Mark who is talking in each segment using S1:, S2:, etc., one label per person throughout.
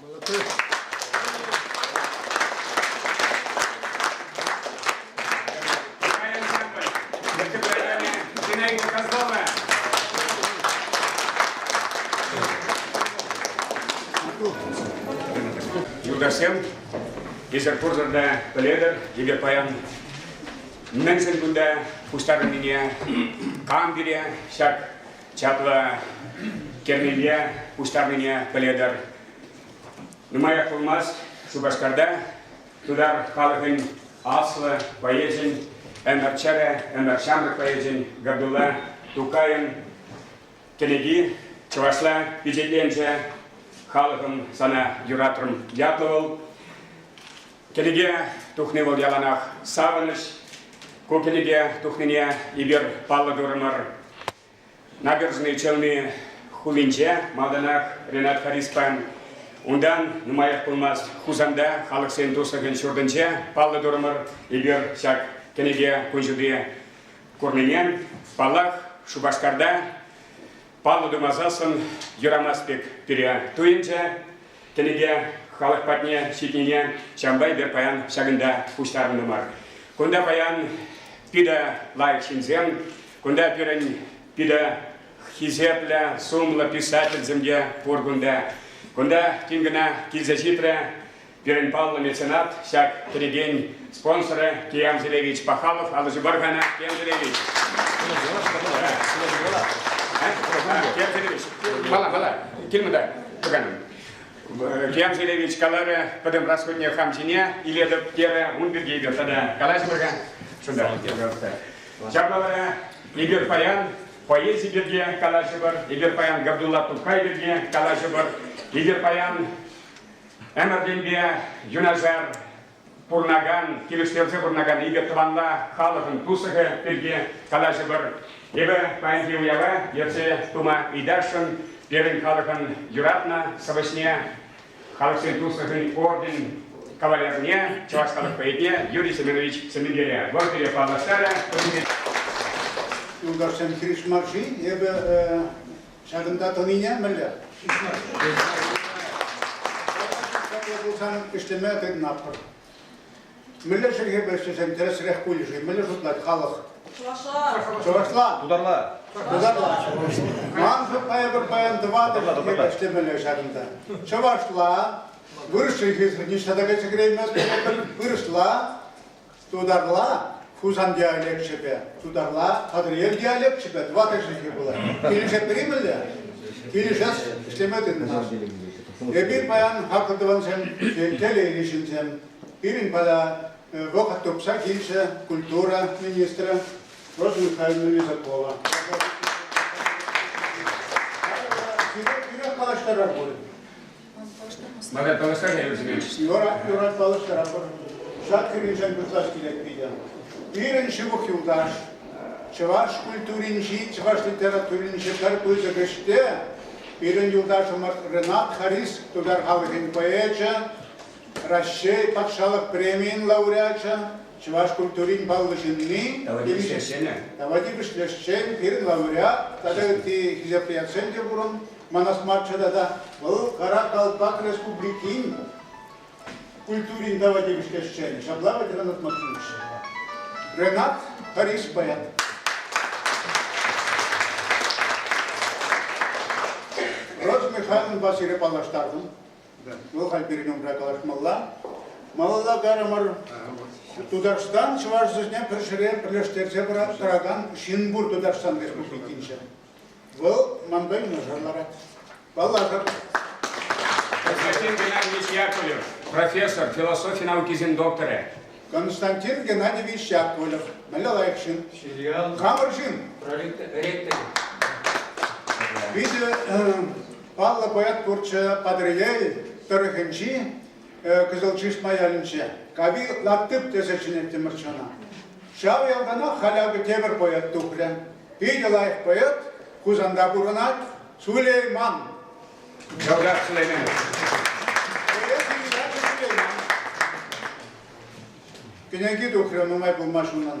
S1: Молодец. Юлташсем, эсир пурсӑрта пӗлетӗр, эпир паян мӗншӗн кунта пуҫтарӑннине, кам пире ҫак чаплӑ кернепе пуҫтарнине пӗлетӗр. Нумаях пулмасть Шупашкарта тутар халӑхӗн аслӑ поэчӗн, ӗмӗр чӗрӗ, ӗмӗр ҫамрӑк поэчӗн Габдулла Тукайӑн кӗнеки чӑвашла пичетленсе «Халӑхӑм сана юратрӑм» ятлӑ вӑл. Кӗнеке тухни вӑл яланах савӑнӑҫ. Ку кӗнеке тухнине эпир паллӑ турӑмӑр. Набережный Челны хулинче малтанах Ренат Хариспан, унтан нумаях пулмасть Хусанта халӑхсен туслӑхӗн ҫуртӗнче паллӑ турӑмӑр. Эпир ҫак кӗнеке кун ҫути курнине, паллах, Шупашкарта паллӑ тумасассӑн юрамасть пек пире туйӑнчӗ. тӗлӗке халӑх патне ҫитнине ҫавӑнпа эпир паян ҫакӑнта пуҫтарӑннӑ мар. Кунта паян питӗ лайӑх ҫынсем, кунта пирӗн питӗ хисеплӗ, сумлӑ писательсем те пур кунта. Кунта тин кӑна килсе ҫитрӗ пирӗн паллӑ меценат, ҫак кӗрекен спонсорӗ Киян Селевич Пахалов. Аллӑ Баргана, Киян Селевич. Киян Селевич, килмӗ та. Георгий Левич каларӗ, пӗтӗм расходне хам ҫине илетӗп, терӗ, ун пирки эпир тата калаҫмӑр-ха. Чунтан, пожалуйста. Ҫапла вара эпир паян поэзи пирки калаҫӑпӑр, эпир паян Габдулла Тукай пирки калаҫӑпӑр, эпир паян ӗмӗртенпе юнашар пурӑнакан, килӗштерсе пурӑнакан икӗ тӑванла халӑхӑн туслӑхӗ пирки калаҫӑпӑр. Эпӗ паянхи уява ертсе пыма ыйтасшӑн пирӗн халӑхӑн юратнӑ сӑвӑҫне, халӑхсен туслӑхӗн орден кавалерне, чӑваш халӑх поэтне Юрий Семенович Семенгере вӑрттине паллаштарӗ. Юлташсем,
S2: хирӗҫ мар-ши? Эпӗ Ҫакӑнта тӑнине мӗнле? Чаплӑ пулсан ӗҫлеме тытӑнатпӑр. Мӗнле чӗлхепе ӗҫлесен тӗрӗсрех пулӗ-ши? Мӗнле шутлать халӑх? Чӑвашла. Чӑвашла.
S3: Тутарла.
S2: Тутарла. Ман паян паян тӑватӑ чӗлхепе ӗҫлемелле ҫакӑнта. Чӑвашла. Вырӑс чӗлхисӗр ниҫта та кайса кӗреймест пулӑпӑр. Вырӑсла. Тутарла Хусан диалекчӗпе, тутарла Патӑрьел диалекчӗпе тӑватӑшӗ пулать. Килӗшетпӗр-и мӗнле? Килӗшес, ӗҫлеме тытӑнас. Эпир паян хаклӑ тӑвансем, телейлӗ ҫынсем, пирӗн пала вӑхӑт тупса килчӗ культура министрӗ Роза Михайловна Лизакова. Сире тӳрех калаҫтарар пулӗ.
S1: Мана палӑртса вӗсене. Юратмалӑхтарапӑр.
S2: Ҫак кӳреншен пырсах килет питӗ. Пирӗн ҫывӑх юлташ, чӑваш культуринчи, чӑваш литературинчи пӗр пысӑк ӗҫте пирӗн юлташӑмӑр Ренат Харис, тутар халӑхӗн поэчӗ, Раҫҫей патшалӑх премийӗн лауреачӗ, чӑваш культурин паллӑ ҫынни, Тавадип ӗҫлесшенӗ. Тавадип ӗҫлесшен, пирӗн лауреат тата ытти хисеприятсем те пурӑн, манас марччӗ тата. Вӑл Каракалпак республикин культурин тава тивӗҫлӗ ӗҫченӗ. Ҫапла ветеранӑтмӑр тунӑччӗ. Ренат Харис Баян. Род Михайловнпа сире паллаштартӑм. Вӑл халь пирӗн умра калаҫмалла. Малалла кайрӑмӑр. Тутарстан чӑваш чӗлхине пӗр ҫӗре пӗрлештерсе пыраттаракан ҫын пур Тутарстан Республикинче. Вӑл манпа юнашар ларать. Паллашӑр.
S1: Константин Геннадьевич Яковлев, профессор, философи наукисен докторӗ. Константин
S2: Геннадьевич Яковлев, мӗнле лайӑх ҫын? Филиал. Хамӑр ҫын. Ректор. Питӗ паллӑ поэт пурччӗ Патӑрьел тӑрӑхӗнчи Кызыл Чишма ялӗнче. Кави латтык тесе чӗнеттӗмӗр чана. Ҫав ялтанах халь акӑ тепӗр поэт тухрӗ. Питӗ лайӑх поэт Хусанта пурӑнать, Сулейман.
S1: Чӑваш Сулейманов.
S2: Кӗнеки тухрӗ нумай пулмасть унӑн.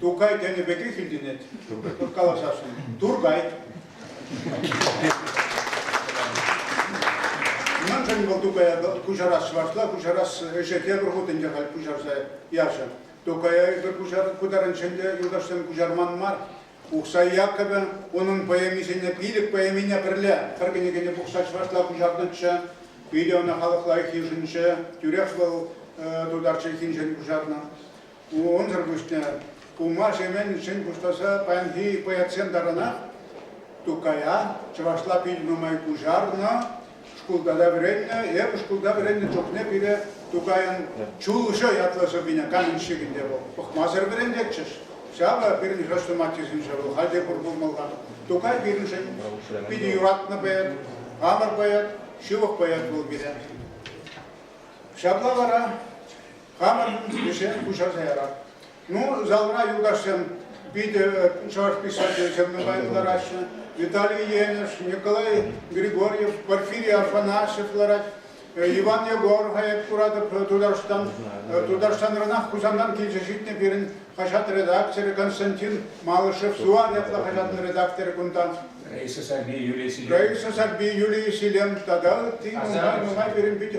S2: Тукай тенӗ пекех илтӗнет. Калаҫасшӑн. Туркай. Мӗншӗн вӑл Тукая куҫарас чӑвашла? Куҫарас ӗҫе тепӗр хут ӗнтӗ халь куҫарса ячӗ. Тукая эпӗ куҫарнӑшӑн те юлташсем куҫарман мар. Ухсай Яккӑвӗ унӑн поэмисене пилӗк поэмине пӗрле пӗр кӗнекене пухса чӑвашла куҫарнӑччӗ. Питӗ ӑна халӑх лайӑх йышӑнчӗ. Тӳрех вӑл тутар чӗлхинчен куҫарнӑ. Унсӑр пуҫне Улма-Шемен ҫын пуҫласа паянхи боецсем таранах Тукая чӑвашла пил нумай куҫарнӑ, шкулта та вӗреннӗ, эпӗ шкулта вӗреннӗ чухне пире Тукайӑн Чулҫӑ ятлӑ сӑввине каменщикӗнте вӑл пӑхмасӑр вӗрентетчӗҫ. Ҫавӑ пирӗн хрестом аттесенче вӑл халь те пур пулмалла. Тукай пирӗншӗн питӗ юратнӑ поэт, хамӑр поэт, ҫывӑх поэт вӑл пире. Ҫапла вара Хамӑн ӗҫе пуҫарса ярар. Ну, залра юлташсем питӗ чӑваш писателӗсем нумай кӑлараҫҫӗ. Виталий Енӗш, Николай Григорьев, Порфирий Афанасьев ларать. Иван Егор хаят куратӑп Тутарстан. Тутарстанранах Хусантан килсе ҫитнӗ пирӗн хаҫат редакторӗ Константин Малышев Сувар ятлӑ хаҫатӑн редакторӗ кунтан. Раиса
S1: Сарби, Юлия Селен. Раиса Сарби, Юлия
S2: Селен тата ытти нумай, нумай пирӗн питӗ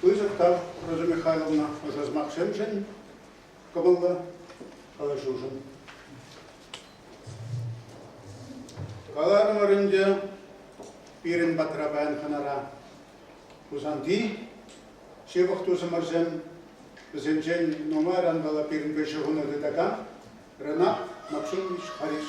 S2: пысӑк тав Роза Михайловна ӑшӑ сӑмахсемшӗн, кӑмӑллӑ калаҫушӑн. Каларӑмӑр ӗнтӗ пирӗн патра паян хӑнара Хусанти ҫывӑх тусӑмӑрсем, вӗсенчен нумайран вӑл пирӗн кӗҫӗ хунӑ тытакан Ренат Максимович Харис.